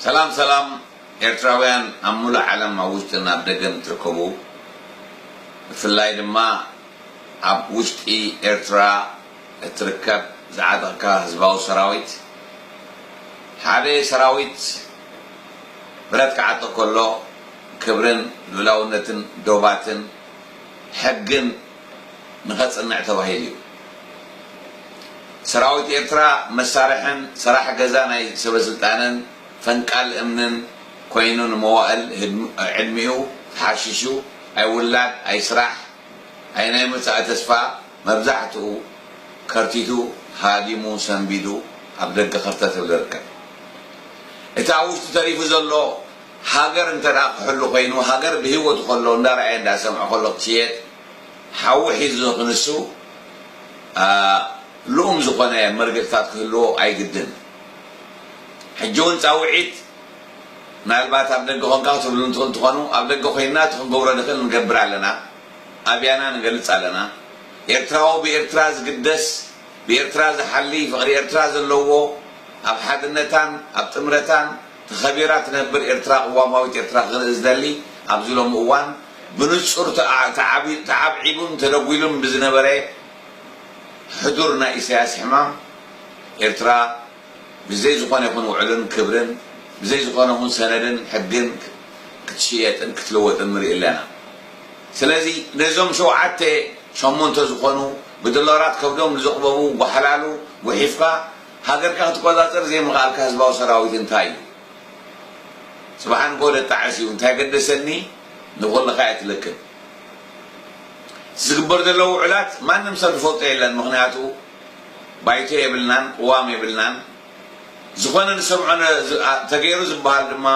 ሰላም ሰላም ኤርትራውያን ኣብ ሙሉእ ዓለም ኣብ ውሽጥን ኣብ ደገን ትርከቡ ብፍላይ ድማ ኣብ ውሽጢ ኤርትራ እትርከብ ዝዓጠቕካ ህዝባዊ ሰራዊት ሓደ ሰራዊት ብረት ክዓጥቕ ከሎ ክብርን ልኡላውነትን ዶባትን ሕግን ንኸጽንዕ ተባሂሉ እዩ። ሰራዊት ኤርትራ መሳርሕን ሰራሕ ገዛ ናይ ሰበስልጣንን ፈንቃል እምንን ኮይኑ ንመዋእል ዕድሚኡ ተሓሺሹ ኣይውላድ ኣይስራሕ ኣይናይ መጻኢ ተስፋ መብዛሕትኡ ከርቲቱ ሃዲሙ ሰንቢዱ ኣብ ደገ ከርተት እብል ይርከብ። እቲ ኣብ ውሽጡ ተሪፉ ዘሎ ሃገር እንተ ክሕሉ ኮይኑ ሃገር ብሂወቱ ከሎ እንዳ ረኣየ እንዳ ሰምዐ ከሎ ክሽየጥ ሓዊ ሒዙ ክንሱ ልኡም ዝኮነ መርገጽታት ክህልዎ ኣይግድን ሕጂ ውን ጻውዒት ምናልባት ኣብ ደገ ኮንካ ክትብልሉ ትክእሉ ትኮኑ ኣብ ደገ ኮይና እቲ ክንገብሮ ንክእል ንገብር ኣለና ኣብያና ንገልጽ ኣለና ኤርትራዊ ብኤርትራ ዝግደስ ብኤርትራ ዝሓሊ ፍቅሪ ኤርትራ ዘለዎ ኣብ ሓድነታን ኣብ ጥምረታን ተኸቢራ ትነብር ኤርትራ ቅዋማዊት ኤርትራ ክርኢ ዝደሊ ኣብዚ ሎሚ እዋን ብንጹር ተዓብዒቡን ተደጒሉን ብዝነበረ ሕዱር ናይ ኢሳያስ ሕማም ኤርትራ ብዘይ ዝኾነ ይኹን ውዕልን ክብርን ብዘይ ዝኾነ ይኹን ሰነድን ሕግን ክትሽየጥን ክትልወጥን ንርኢ ኣለና ስለዚ ነዞም ሸውዓተ ሸሞንተ ዝኾኑ ብዶላራት ከብዶም ንዘቕበቡ ጓሓላሉ ጉሒፍካ ሃገርካ ክትቆጻጸር ዘይምኽኣልካ ህዝባዊ ሰራዊት እንታይ እዩ ጽባሕ ኣንጎሆ ደጣዕስ እዩ እንታይ ገደሰኒ ንኹልኻ እየ ትልክም እቲ ዝግበር ዘሎ ውዑላት ማንም ሰብ ዝፈልጦ የለን ምኽንያቱ ባይቶ የብልናን ቅዋም የብልናን ዝኾነ ንሰምዖ ተገይሩ ዝብሃል ድማ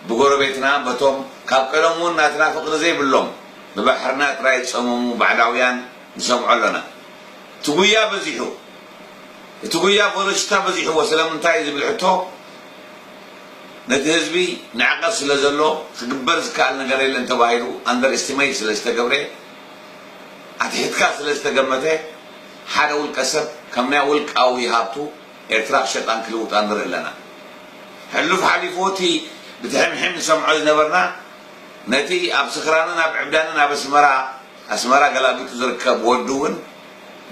ብጎረቤትና በቶም ካብ ቀደሙ ውን ናትና ፍቅሪ ዘይብሎም ብባሕርና ጥራይ ዝጸመሙ ባዕዳውያን ንሰምዖ ኣሎና እቲ ጉያ በዚሑ እቲ ጉያ ፖለቲካ በዚሕዎ ስለምንታይ ዝብል ሕቶ ነቲ ህዝቢ ንዕቀት ስለዘሎ ክግበር ዝከኣል ነገር የለን ተባሂሉ ኣንደር ኤስቲመይት ስለዝተገብረ ኣትሒትካ ስለዝተገመተ ሓደ ውልቀ ሰብ ከም ናይ ውልቃዊ ሃብቱ ኤርትራ ክሸጣን ክልውጣን ንርኢ ኣለና ሕሉፍ ሓሊፉ እቲ ብትሕምሒም ንሰምዖ ዝነበርና ነቲ ኣብ ስኽራንን ኣብ ዕብዳንን ኣብ ኣስመራ ኣስመራ ገላቢጡ ዝርከብ ወዱ ውን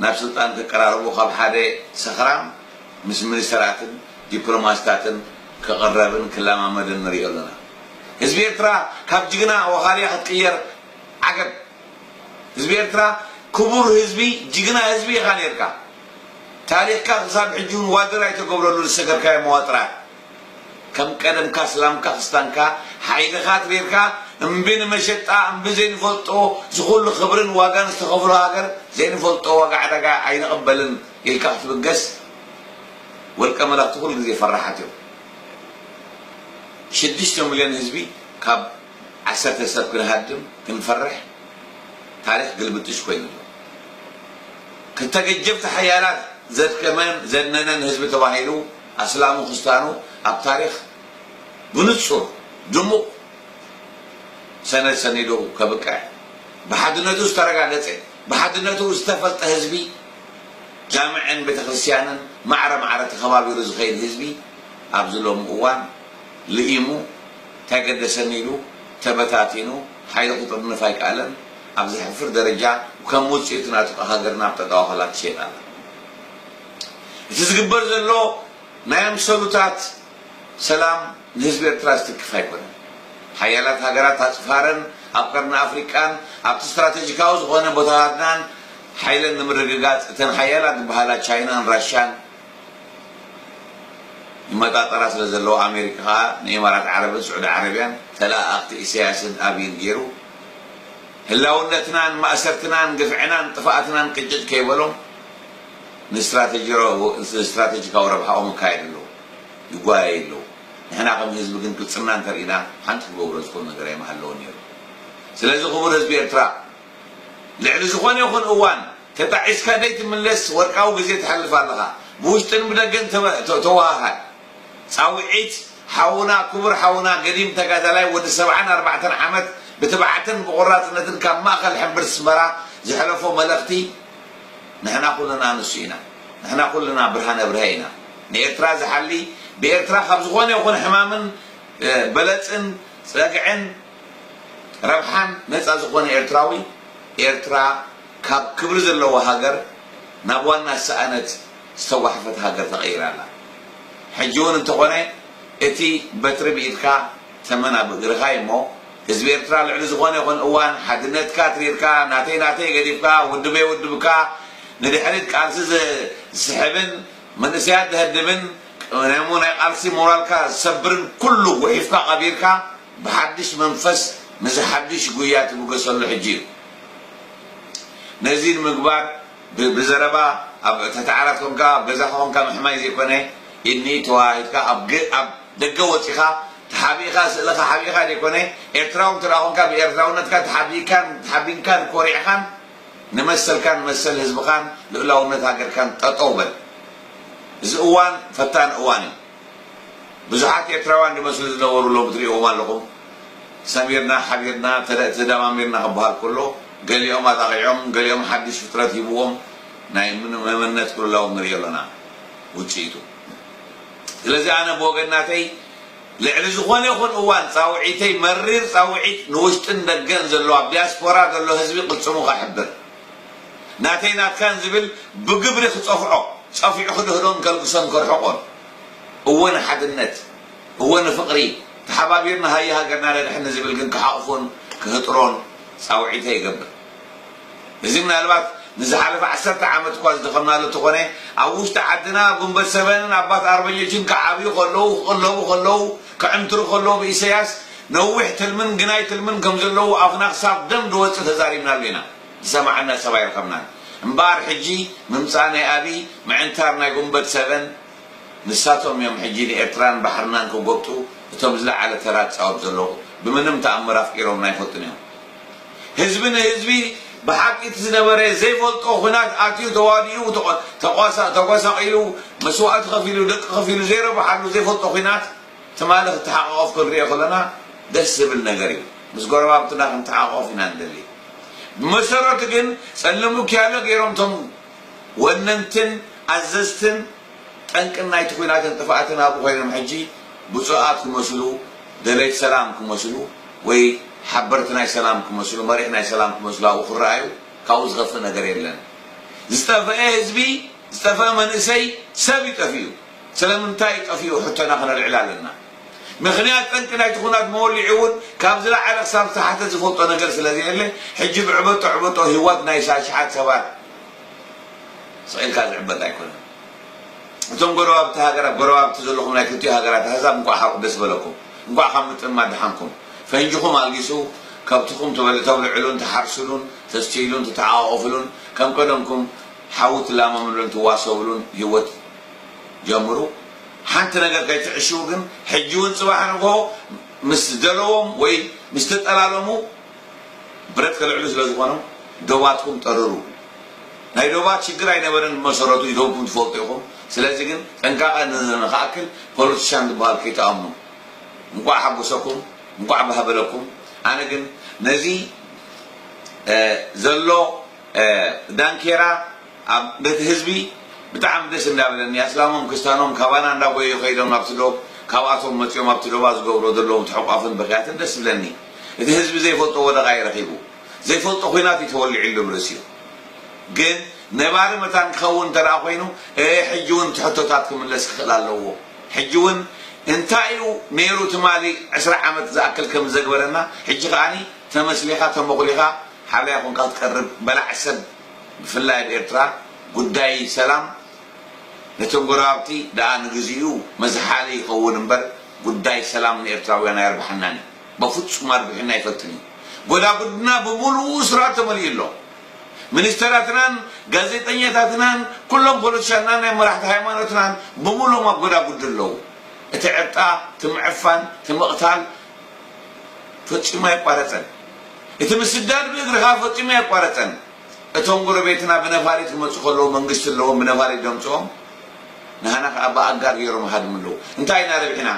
ናብ ስልጣን ክቀራርቦ ካብ ሓደ ሰኽራም ምስ ሚኒስተራትን ዲፕሎማስታትን ክቕረብን ክለማመድን ንሪኦ ኣለና ህዝቢ ኤርትራ ካብ ጅግና ወኻርያ ክትቅየር ዓገብ ህዝቢ ኤርትራ ክቡር ህዝቢ ጅግና ህዝቢ ኢኻ ኔርካ ታሪኽካ ክሳብ ሕጂ ውን ዋድር ኣይተገብረሉን ዝሰገርካዮ መዋጥራት ከም ቀደምካ ስላምካ ክስታንካ ሓይልኻ ትሪርካ እምቢ ንመሸጣ እምቢ ዘይንፈልጦ ዝኹሉ ክብርን ዋጋን ዝተኸፍሎ ሃገር ዘይንፈልጦ ዋጋ ዕዳጋ ኣይንቕበልን ኢልካ ክትብገስ ወልቀ መላኽቲ ኩሉ ግዜ ፈራሓት እዮም ሽዱሽተ ምልዮን ህዝቢ ካብ ዓሰርተ ሰብ ክንሃድም ክንፈርሕ ታሪኽ ግልብጥሽ ኮይኑ ኣሎ ክተገጀብቲ ሓያላት ዘድከመን ዘድነነን ህዝቢ ተባሂሉ ኣስላሙ ክስታኑ ኣብ ታሪኽ ብንጹር ድሙቕ ሰነድ ሰኒዱ ከብቅዕ ብሓድነቱ ዝተረጋገጸ ብሓድነቱ ዝተፈልጠ ህዝቢ ጃምዕን ቤተክርስትያንን ማዕረ ማዕረ ተኸባቢሩ ዝኸይድ ህዝቢ ኣብዚ ሎሚ እዋን ልኢሙ ታይ ገደሰኒ ኢሉ ተበታቲኑ ሓይሉ ክጥርንፍ ኣይከኣለን ኣብ ዘሕፍር ደረጃ ከም ውጽኢቱ ናቱ ከ ሃገርና ኣብ ጠጠዋኸላ ትሸይጥ ኣላ። እቲ ዝግበር ዘሎ ናይ ኣምሰሉታት ሰላም ንህዝቢ ኤርትራ ዝትክፍ ኣይኮነን። ሓያላት ሃገራት ኣጽፋረን ኣብ ቀርኒ ኣፍሪቃን ኣብቲ ስትራተጂካዊ ዝኾነ ቦታታትናን ሓይለን ንምርግጋጽ እተን ሓያላት ዝበሃላ ቻይናን ራሻን ይመጣጠራ ስለ ዘለዋ ኣሜሪካ ከኣ ንኢማራት ዓረብን ስዑዲ ዓረብያን ተለኣኣኽቲ ኢሰያስን ኣብይን ጌሩ ህላውነትናን ማእሰርትናን ግፍዕናን ጥፍኣትናን ቅጭጭ ከይበሎም ንስትራተጂካዊ ረብሓኦም ይካየዱ ኣለዉ፣ ይጓየዩ ኣለዉ። ንሕና ከም ህዝቢ ግን ቅልጽምና እንተርኢና ሓንቲ ክገብሮ ዝኽእሉ ነገር ኣይምሃለወን ነይሩ። ስለዚ ክቡር ህዝቢ ኤርትራ ልዕሊ ዝኾነ ይኹን እዋን ተጣዒስካ ዘይትምለስ ወርቃዊ ግዜ ተሕልፍ ኣለኻ። ብውሽጥን ብደገን ተወሃሃድ። ጻውዒት ሓውና ክቡር ሓውና ገዲም ተጋዳላይ ወዲ ሰብዓን ኣርባዕተን ዓመት ብትብዓትን ብቖራጽነትን ካብ ማእከል ሕምብርቲ ኣስመራ ዘሕለፎ መልእኽቲ፣ ንሕና ኩልና ንሱ ኢና ንሕና ኩልና ብርሃነ ብርሀ ኢና ንኤርትራ ዝሓሊ ብኤርትራ ካብ ዝኾነ ይኹን ሕማምን በለጽን ጸግዕን ረብሓን ነጻ ዝኾነ ኤርትራዊ ኤርትራ ካብ ክብሪ ዘለዋ ሃገር ናብ ዋና ዝሰኣነት ዝተጓሕፈት ሃገር ተቐይራ ኣላ ሕጂ ውን እንተኾነ እቲ በትሪ ብኢድካ ተመን ኣብ እግርኻ እዩ እሞ ህዝቢ ኤርትራ ልዕሊ ዝኾነ ይኹን እዋን ሓድነትካ ትሪርካ ናተይ ናተይ ገዲፍካ ውድበይ ውድብካ ንድሕሪት ቃልሲ ዝስሕብን መንእሰያት ዘህድብን ቀደሙ ናይ ቃልሲ ሞራልካ ዝሰብርን ኩሉ ጉሒፍካ ቀቢርካ ብሓድሽ መንፈስ ንዚ ሓድሽ ጉያ ትብገሰሉ ሕጂ እዩ ነዚ ንምግባር ብዘረባ ኣብ ትሕቲ ዓራት ኮንካ ኣብ ገዛኻ ኮንካ ምሕማይ ዘይኮነ ኢድኒ ተወሃሂድካ ኣብ ኣብ ደገ ወጺኻ ተሓቢእኻ ስእልኻ ሓቢእኻ ዘይኮነ ኤርትራዊ እንተ ኮንካ ብኤርትራውነትካ ተሓቢእካን ተሓቢንካን ኮሪዕኻን ንመሰልካን መሰል ህዝብኻን ልኡላውነት ሃገርካን ጠጠው በል እዚ እዋን ፈታኒ እዋን እዩ። ብዙሓት ኤርትራውያን ድመስሉ ዝነበሩ ሎሚ ትሪእዎም ኣለኹም ሰሚርና ሓቢርና ተደማሚርና ክበሃል ከሎ ገሊኦም ኣጣቒዖም ገሊኦም ሓድሽ ፍጥረት ሂብዎም ናይ መመነት ቅልውላዎም ንርኢ ኣሎና ውጽኢቱ ስለዚ ኣነ ብወገን ናተይ ልዕሊ ዝኾነ ይኹን እዋን ጻውዒተይ መሪር ጻውዒት ንውሽጥን ደገን ዘሎ ኣብ ዲያስፖራ ዘሎ ህዝቢ ቅልጽሙ ከሕብር ናተይ ናትካን ዝብል ብግብሪ ክጸፍዖ፣ ጸፊዑ ክድህሎን ከልግሶን ከርሕቆን። እወ ንሓድነት፣ እወ ንፍቕሪ፣ ተሓባቢርና ሃየ ሃገርና ነድሕን ንዝብል ግን ክሓቑፎን ክህጥሮን ጻውዒተይ እገብር። እዚ ምናልባት ንዝሓለፈ ዓሰርተ ዓመት እኳ ዝደኸምናሉ እንተኾነ፣ ኣብ ውሽጢ ዓድና ጉንበት ሰበንን ኣባት ኣርበኞችን ክዓብዩ ከለዉ፣ ክቕለቡ ከለዉ፣ ክዕምትሩ ከለዉ ብኢሰያስ፣ ነዊሕ ትልምን ግናይ ትልምን ከም ዘለዎ ኣፍና ክሳብ ደም ድወጽእ ተዛሪብናሉ ኢና ዝሰማዓና ሰብ ኣይረኸብናን እምበኣር ሕጂ ምምጻእ ናይ ኣብይ ምዕንታር ናይ ጉንበት ሰቨን ንሳቶም እዮም ሕጂ ንኤርትራን ባሕርናን ክጎብጡ እቶም ዝለዓለ ተራ ዝጻወቱ ዘለዉ ብምንም ተኣምር ኣፍቂሮምና ኣይፈልጡን እዮም ህዝቢ ንህዝቢ ብሓቂ እቲ ዝነበረ ዘይፈልጦ ኩናት ኣትዩ ተዋዲኡ ተጓሳቂሉ መስዋእቲ ከፊሉ ደቂ ከፊሉ ዘይረብሓሉ ዘይፈልጦ ኩናት ትማሊ ክትሓቃቆፍ ክንሪኦ ከለና ደስ ዝብል ነገር እዩ ምስ ጎረባብትና ክንተሓቆፍ ኢና ንደሊ ብመሰረቱ ግን ጸልም ውኪያሎ ገይሮም እቶም ወነንትን ኣዘዝትን ጠንቅን ናይቲ ኩናትን ጥፍኣትን ኣብኡ ኮይኖም ሕጂ ብጹኣት ክመስሉ ደለይቲ ሰላም ክመስሉ ወይ ሓበርቲ ናይ ሰላም ክመስሉ መሪሕ ናይ ሰላም ክመስሉ ኣብኡ ክረኣዩ ካብኡ ዝኸፍእ ነገር የለን ዝጠፈኤ ህዝቢ ዝጠፈኤ መንእሰይ ሰብ እዩ ጠፊኡ ስለምንታይ ጠፊኡ ሕቶና ክነልዕል ኣለና። ምኽንያት ጠንቂ ናይቲ ኩናት መወሊዑ እውን ካብ ዝለዓለ ክሳብ ዝተሓተ ዝፈልጦ ነገር ስለዘየለ ሕጂ ብዕበጦ ዕበጦ ሂወት ናይ ኣሽሓት ሰባት ሰቂልካ ዝዕበጥ ኣይኮነን። እቶም ጎረባብቲ ሃገራት ጎረባብቲ ዘለኹም ናይ ክልቲኡ ሃገራት ኣህዛብ እንቋዕ ሓቁ ደስ በለኩም እንቋዕ ካብ ምጥምማት ደሓንኩም። ፈንጅኹም ኣልጊሱ ከብትኹም ተብልዕሉን ትሓርሱሉን ተስትይሉን ትተሓቛቖፍሉን ከም ቀደምኩም ሓዊ ትላመምሉን ትዋሰብሉን ሂወት ጀምሩ ሓንቲ ነገር ከይትዕሽዉ ግን ሕጂ ውን ጽባሕ ንግሆ ምስ ደለዎም ወይ ምስ ተጠላለሙ ብረት ከልዕሉ ስለ ዝኾኑ ዶባትኩም ጠርሩ ናይ ዶባት ሽግር ኣይነበረን ብመሰረቱ ኢዶምኩም ትፈልጡ ኢኹም ስለዚ ግን ጥንቃቀ ንክኣክል ፖለቲሻን ዝብሃል ከይትኣምኑ እንቋዕ ሓጎሰኩም እንቋዕ ባህ በለኩም ኣነ ግን ነዚ ዘሎ ዳንኬራ ኣብ ቤት ህዝቢ ብጣዕሚ ደስ እንዳበለኒ ኣስላሞም ክስታኖም ካባና እንዳጎየዩ ከይዶም ናብቲ ዶብ ካብኣቶም መጽዮም ኣብቲ ዶባ ዝገብርዎ ዘለዉ ተሕቋፍን ብኽያትን ደስ ዝብለኒ እቲ ህዝቢ ዘይፈልጦ ወደቓ ዩ ረኺቡ ዘይፈልጦ ኹናት ዩ ተወሊዕሉ ብ ርእሲኡ ግን ነባሪ መታን ክኸውን እንተ ኮይኑ እእ ሕጂ ውን እቲ ሕቶታት ክምለስ ክኽእል ኣለዎ ሕጂ ውን እንታይ ዩ ነይሩ ትማሊ ዕስራ ዓመት ዝኣክል ከም ዘግበረና ሕጂ ኸኣ ተመስሊኻ ተሞኽሊኻ ሓላዪ ኹንካ ትቀርብ በላዕ ሰብ ብፍላይ ኣብ ኤርትራ ጉዳይ ሰላም ነቶም ጎረባብቲ ደኣ ንግዚኡ መዝሓሊ ይኸውን እምበር ጉዳይ ሰላም ንኤርትራውያን ኣየርብሓናን እዩ። በፍጹም ኣርቢሑና ኣይፈልጥን እዩ። ጎዳጉድና ብምሉኡ እሱራት ተመሊኡ ኣሎ። ሚኒስተራትናን ጋዜጠኛታትናን ኩሎም ፖለቲሻናን ናይ መራሕቲ ሃይማኖትናን ብምሉኦም ኣብ ጎዳጉዲ ኣለዉ። እቲ ዕርጣ፣ እቲ ምዕፋን፣ እቲ ምቕታል፣ ፈጺሙ ኣይቋረጸን። እቲ ምስዳድ ብእግሪ ከኣ ፈጺሙ ኣይቋረጸን። እቶም ጎረቤትና ብነፋሪት ክመጹ ከለዉ መንግስቲ ኣለዎም ብነፋሪት ደምጽኦም ንሃና ከኣ ብኣጋር ገይሮም ይሃድሙ ኣለዉ። እንታይ ኢና ረቢሕና?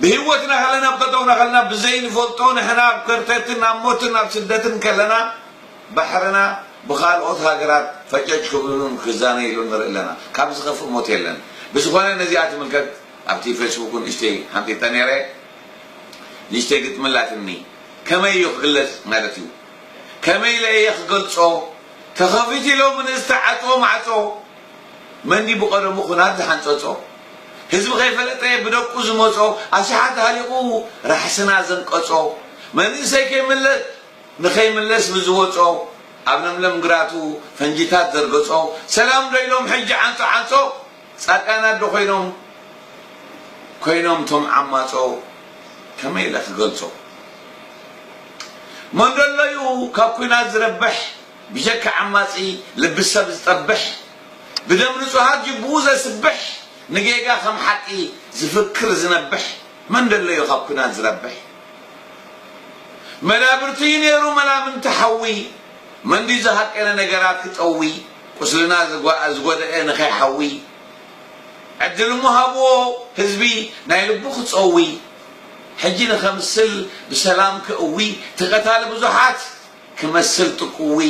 ብህይወትና ከለና ኣብ ጠጠውና ከለና ብዘይንፈልጦ ንሕና ኣብ ከርተትን ኣብ ሞትን ኣብ ስደትን ከለና ባሕርና ብካልኦት ሃገራት ፈጨጭ ክብልሉን ክዛነይሉን ንርኢ ኣለና። ካብዚ ዝኸፍእ ሞት የለን። ብዝኾነ ነዚኣ ትምልከት። ኣብቲ ፈስቡኩ ንእሽተይ ሓንጢጠ ነይረ ንእሽተይ ግጥሚ ኣላትኒ ከመይ እዩ ክግለጽ ማለት እዩ ከመይ ኢለ እየ ክገልጾ ተኸፊቱ ኢሎሙ ንዝተዓጽወ ማዕጾ መን ድዩ ብቀደሙ ኩናት ዝሓንጸጾ ህዝቢ ከይፈለጠ ብደቁ ዝመጾ ኣሽሓት ሃሊቁ ራሕስና ዘንቀጾ መንእሰይ ከይምለስ ንከይምለስ ብዝወጾ ኣብ ለምለም ግራቱ ፈንጂታት ዘርገጾ ሰላም ዶ ኢሎም ሕጂ ዓንጾ ዓንጾ ጻድቃን ኣዶ ኮይኖም ኮይኖም ቶም ዓማጾ ከመይ ኢለ ክገልጾ መንዶሎዩ ካብ ኩናት ዝረብሕ ብጀካ ዓማጺ ልቢ ሰብ ዝጠብሕ ብደም ንጹሃት ጅቡኡ ዘስብሕ ንጌጋ ከም ሓቂ ዝፍክር ዝነብሕ መንደሎዩ ካብ ኩናት ዝረብሕ መዳብርቱዩ ኔሩ መላምንቲ ሓዊ መን ድዩ ዝሃቀነ ነገራት ክጠዊ ቁስልና ዝጎደኤ ንከይሓዊ ዕድል እሞ ሃብዎ ህዝቢ ናይ ልቡ ክጸዊ ሕጂ ንከምስል ብሰላም ከእዊ እቲ ቀታሊ ብዙሓት ክመስል ጥቁዊ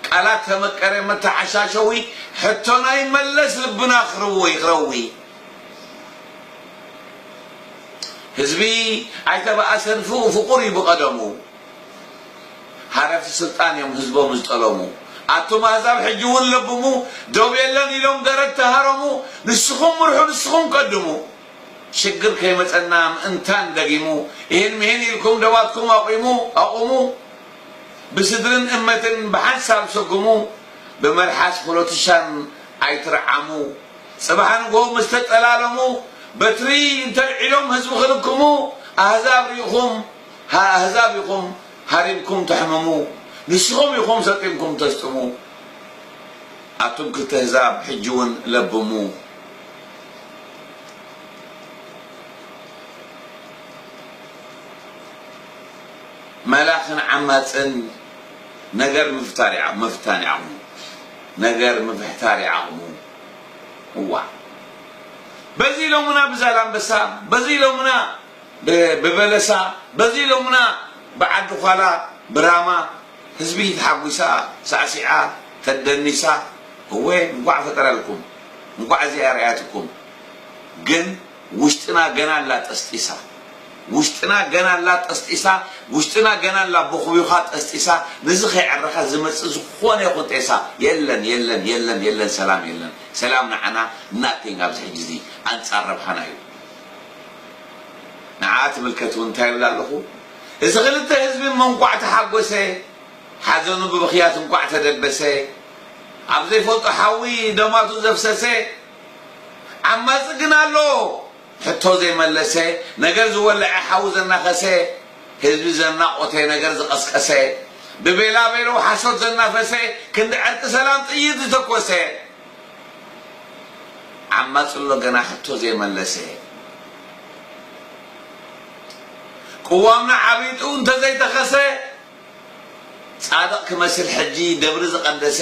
ቃላት ተመቀረ መተዓሻሸዊ ሕቶና ይመለስ ልብና ክርዊ ክረዊ ህዝቢ ኣይተባኣሰን ፍኡ ፍቁር እዩ ብቀደሙ። ሃረርቲ ስልጣን እዮም ህዝቦም ዝጠለሙ ኣቱም ኣህዛብ ሕጂ ውን ለብሙ ዶብ የለን ኢሎም ገረድ ተሃረሙ ንስኹም ምርሑ ንስኹም ቀድሙ ሽግር ከይመጸና ምእንታን ደጊሙ ኢሂን ምሂን ኢልኩም ደባትኩም ኣቁሙ ኣቁሙ ብስድርን እመትን ብሓንሳብ ሰጉሙ ብመልሓስ ፖሎቲሻን ኣይትርዓሙ ጽባሕ ንግሆ ምስ ተጠላለሙ በትሪ እንተልዒሎም ህዝቢ ክልክሙ ኣህዛብ ሪኢኹም ሃ ኣህዛብ ኢኹም ሃሪምኩም ተሕምሙ ንስኹም ኢኹም ሰጢምኩም ተስጥሙ ኣቱም ክልተ ኣህዛብ ሕጂ ውን ለብሙ። መላኽን ዓማጽን ነገር ምፍታር ይዓ ምፍታን ይዓቕሙ ነገር ምፍሕታር ይዓቕሙ እዋእ በዚ ኢሎሙና ብዛላምበሳ በዚ ኢሎሙና ብበለሳ በዚ ሎምና ብዓዲ ዃላ ብራማ ህዝቢ ተሓጒሳ ሳዕሲዓ ተደኒሳ እወ እንኳዕ ፈጠረልኩም እንኳዕ እዚ ኣርኣያትኩም ግን ውሽጥና ገና ኣላ ጠስጢሳ ውሽጥና ገና ኣላ ጠስጢሳ ውሽጥና ገና ኣላ ቦኽቢዃ ጠስጢሳ ንዚ ከይዕረኻ ዝመጽእ ዝኾነ ይኹን ጤሳ የለን የለን የለን የለን ሰላም የለን ሰላም ንዓና nothing ኣብዚ ሕጂ እዚ ኣንጻር ረብሓና እዩ ንዓ ትምልከት ውን እንታይ ይብል ኣለኹ እዚ ክልተ ህዝቢ እሞ እንኳዕ ተሓጎሰ ሓዘኑ ብብኽያት እንኳዕ ተደበሰ ኣብ ዘይፈልጦ ሓዊ ደማቱ ዘፍሰሰ ዓማጺ ግን ኣሎ ሕቶ ዘይመለሰ ነገር ዝወለዐ ሓዊ ዘናኸሰ ህዝቢ ዘናቖተ ነገር ዝቐስቀሰ ብቤላቤለው ሓሶት ዘናፈሰ ክንዲ ዕርቂ ሰላም ጥይት ዝተኮሰ ዓማጺ ኣሎ ገና ሕቶ ዘይመለሰ። ቅዋምና ዓቢጡ እንተዘይተኸሰ ጻድቕ ክመስል ሕጂ ደብሪ ዝቐደሰ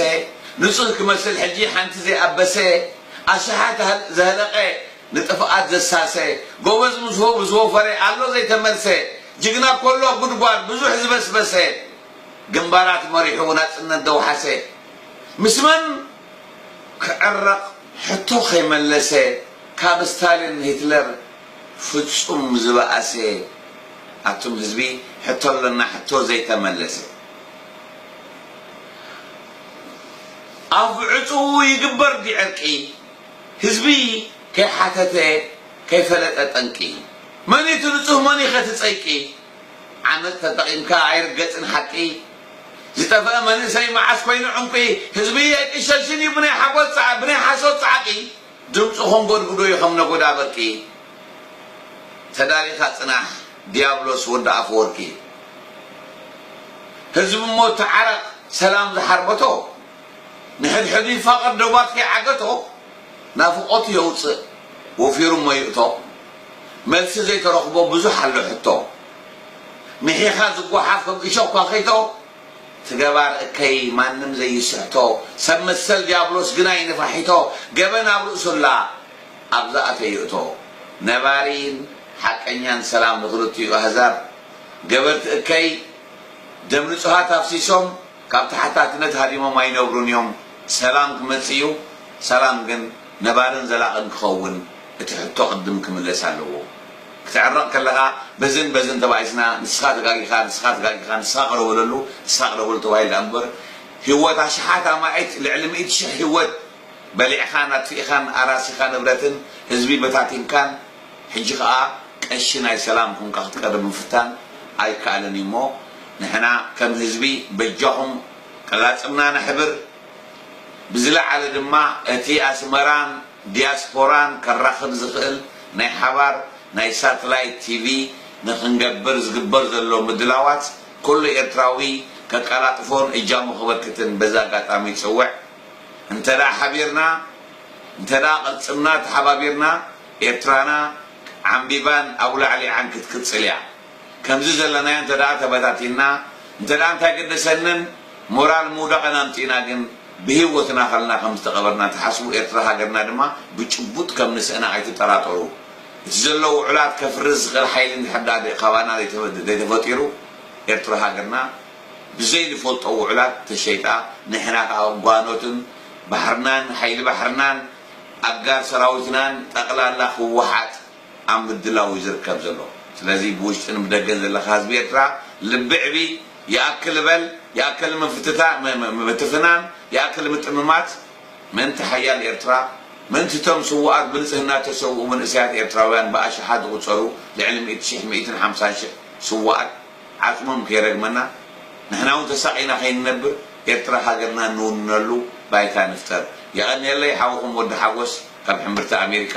ንጹህ ክመስል ሕጂ ሓንቲ ዘይኣበሰ ኣሽሓት ዘህለቐ ንጥፍኣት ዘሳሰ ጎበዝ ምስ ወ ምስ ወፈረ ኣሎ ዘይተመልሰ ጅግና እኮ ኣሎ ኣብ ጉድጓድ ብዙሕ ዝበስበሰ ግንባራት መሪሑ ናጽነት ዘውሓሰ ምስ መን ክዕረቕ ሕቶ ከይመለሰ ካብ ስታሊን ሂትለር ፍጹም ዝበኣሰ ኣቱም ህዝቢ ሕቶ ኣለና ሕቶ ዘይተመለሰ ኣብ ዕጽዉ ይግበር ድዩ ዕርቂ ህዝቢ ከይሓተተ ከይፈለጠ ጠንቂ መንዩ እቲ ንጹህ መንዩኸ እቲ ጸይቂ ዓመጽ ተጠቂምካ ኣይርገጽን ሓቂ ዝጠፈኣ መንእሰይ መዓስ ኮይኑ ዕንቊ ህዝቢ ኣይቅሸሽን እዩ ብናይ ሓጎስ ጻዕ ብናይ ሓሶት ጻዕቂ ድምጹ ከንጎድጉዶ እዩ ከም ነጎዳ በርቂ ተዳሊኻ ጽናሕ ድያብሎስ ወዲ ኣፈወርቂ ህዝቢ እሞ ተዓረቕ ሰላም ዝሓርበቶ ንሕድሕዱ ይፋቐር ዶባት ከይዓገቶ ናፍቖቱ የውጽእ ወፊሩ እሞ ይእቶ። መልሲ ዘይተረኽቦ ብዙሕ ኣሎ ሕቶ ሚሒኻ ዝጎሓፍ ከም እሾኽ ኳኺቶ ትገባር እከይ ማንም ዘይስሕቶ ሰብ መሰል ድያብሎስ ግና ይንፋሒቶ ገበን ኣብ ርእሱ ኣላ ኣብ ዝኣተዮ ይእቶ ነባሪን ሓቀኛን ሰላም ንኽልቲኡ ኣህዛብ ገበርቲ እከይ ደም ንጹሃት ኣፍሲሶም ካብ ተሓታትነት ሃዲሞም ኣይነብሩን እዮም ሰላም ክመጽእ እዩ ሰላም ግን ነባርን ዘላቕን ክኸውን እቲ ሕቶ ቅድም ክምለስ ኣለዎ ክትዕረቅ ከለካ በዝን በዝን ተባኢስና ንስካ ተጋጊካ ንስካ ተጋጊካ ንስካ ቅረ በለሉ ንስካ ቅረ በሉ ተባሂሉ ድኣ እምበር ሂወት ኣሽሓት ኣማኢት ልዕሊ ሚእቲ ሽሕ ሂወት በሊዕካን ኣጥፊእካን ኣራሲካ ንብረትን ህዝቢ በታቲንካን ሕጂ ከኣ ቀሺ ናይ ሰላም ኮንካ ክትቀርብ ምፍታን ኣይከኣልን እዩ እሞ ንሕና ከም ህዝቢ በጃኩም ቅላጽምና ነሕብር ብዝለዓለ ድማ እቲ ኣስመራን ዲያስፖራን ከራኽብ ዝኽእል ናይ ሓባር ናይ ሳትላይት ቲቪ ንክንገብር ዝግበር ዘሎ ምድላዋት ኩሉ ኤርትራዊ ከቀላጥፎን እጃሙ ከበርክትን በዚ ኣጋጣሚ ይጽውዕ። እንተ ሓቢርና እንተ ቀልጽምና ተሓባቢርና ኤርትራና ዓምቢባን ኣብ ላዕሊ ዓንኪ ትቅጽል እያ። ከምዚ ዘለናዮ እንተ ደኣ ተበታቲንና እንተ ደኣ እንታይ ገደሰንን ሞራል ምውዳቕን ኣምጺእና ግን ብሂወትና ከለና ከም ዝተቐበርና ትሓስቡ ኤርትራ ሃገርና ድማ ብጭቡጥ ከም ንስእና ኣይትጠራጠሩ እቲ ዘሎ ውዑላት ከፍርስ ዝኽእል ሓይሊ እንድሕር ደኣ ካባና ዘይተፈጢሩ ኤርትራ ሃገርና ብዘይ ንፈልጦ ውዑላት ተሸይጣ ንሕና ከኣ ጓኖትን ባሕርናን ሓይሊ ባሕርናን ኣጋር ሰራዊትናን ጠቕላላ ህወሓት ኣብ ምድላው እዩ ዝርከብ ዘሎ ስለዚ ብውሽጥን ብደገን ዘለካ ህዝቢ ኤርትራ ልቢ ዕቢ ይኣክል በል ይኣከል ምፍትታ ምብትፍናን ይኣክል ምጥምማት ምእንቲ ሓያል ኤርትራ ምእንቲ እቶም ስውኣት ብንጽህና እተሰውኡ መንእሰያት ኤርትራውያን ብኣሽሓት ዝቁጸሩ ልዕሊ ሚእቲ ሽሕ ሚእትን ሓምሳን ሽሕ ስውኣት ዓጽሞም ከይረግመና ንሕና ውን ተሳቂና ከይንነብር ኤርትራ ሃገርና እንውንነሉ ባይታ ንፍጠር የቀንየለይ ሓውኩም ወዲ ሓጎስ ካብ ሕምብርቲ ኣሜሪካ